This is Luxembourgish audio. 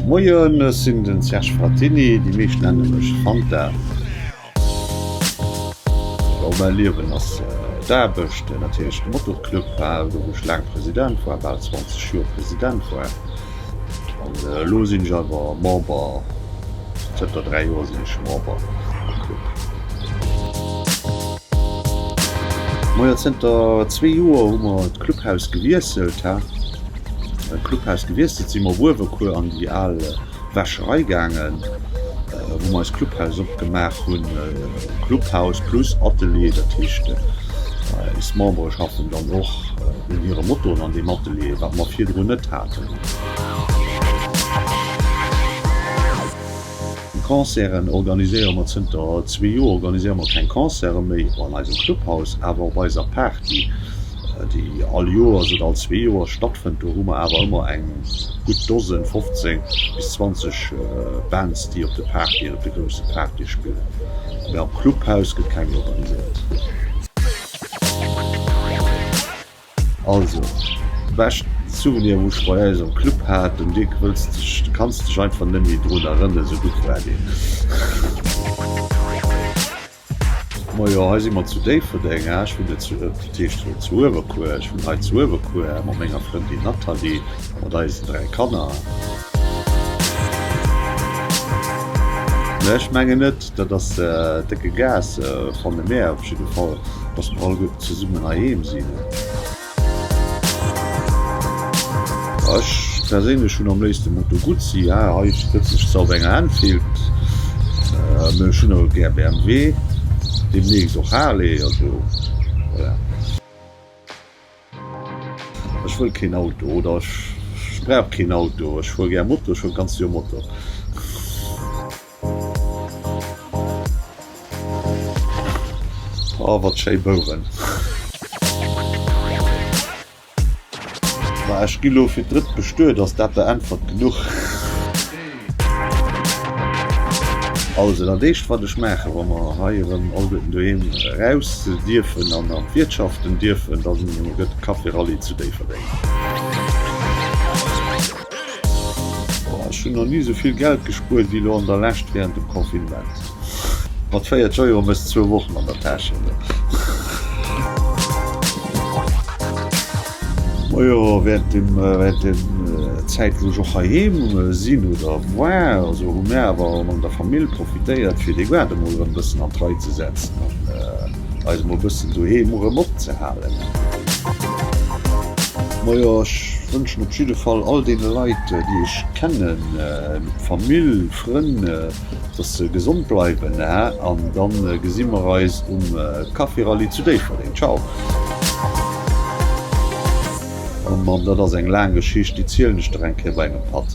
Moien, ech sinn den Serge Frattini, déi meescht nennen mech Fanta. Jo mäi Liewen ass d'Aarbecht, natierlech de Motorclub, wou ech laang President war, bal 20 Joer President war. An elo sinn ech awer Member, zënter 3 Joer sinn ech Member am Club. Moier zënter 2 Joer hu mer d'Clubhaus gewiesselt, hä? Beim Clubhaus gewiesselt si mer op Uewerkuer an déi al Wäscherei gaangen, wou mer eist Clubhaus opgemaach hunn. Clubhaus plus Atelier, dat heescht eis Membere schaffen dann och un hire Motoen an deem Atelier, wat mer virdrun net haten. Concerten organiséiere mer zënter zwee Joer organiséiere mer keng Concerte méi an eisem Clubhaus, awer op eiser Party. déi all Joers oder all zwee Joer stattfënnt, do hu mer awer ëmmer eng gutt Dosen, 15 bis 20 Bands, déi op de Partyen, op de grousse Partye spillen, mä am Clubhaus gëtt keng organiséiert. Also, de beschten Souvenir, wou ech bei eis am Club hat, den Dick, wëlls de dech, du kanns dech einfach net méi drun erënnen, esou gutt war deen. Majo hei si mer zu Déifferdeng. Ah ech wunn net zu, dat heescht wéi zu Uewerkuer, ech wunn hei zu Uewerkuer mat menger Frëndin Nathalie a mat eisen 3 Kanner. Mä ech mengen net, dat ass décke Gas, fanne mär op jidde Fall, dass mer alleguerten zesummen heiheem sinn. Ech perséinlech hunn am léifsten Moto Guzzi, jo hei sëtzen ech zwar op enger Enfield, mee ech hunn och gär BMW, deemnächst och Harley, also voilà. Ech wëll keen Auto oder ech brauch keen Auto, ech fuer gär Moto, ech fuer d'ganzt Joer Moto. Oh wat schéi Bouwen! Ma ech gi lo fir d'drëtt bestuet, ass dat der Äntwert genuch? Also dat éischt wat ech maachen, wa mer hei erëm alleguerten doheem eraus dierfen an an d'Wiertschaften dierfen, da gëtt Café Rallye zu Déifferdeng. Ech hunn nach ni esou vill Geld gespuert wéi elo an der Lescht wärend dem Confinement. Mat 40 Euro méchs zwou Wochen an der Täsch halen. Majo wärend der Zäit wou ech och heiheem sinn oder war esou hu mär awer an der Famill profitéiert fir de Gaart emol erëm bëssen an d'Rei ze setzen. eis mol bëssen doheem erëm opzehalen. Majo, ech wënschen op jidde Fall all deene Leit, déi ech kennen, Famill, Frënn, dass se gesond bleiwen an dann gesi mer eis um Kaffirallye zu Déifferdeng. Ciao. Oh Mann, dat ass eng laang Geschicht, déi zielen ech der eng Kéier bei engem Patt.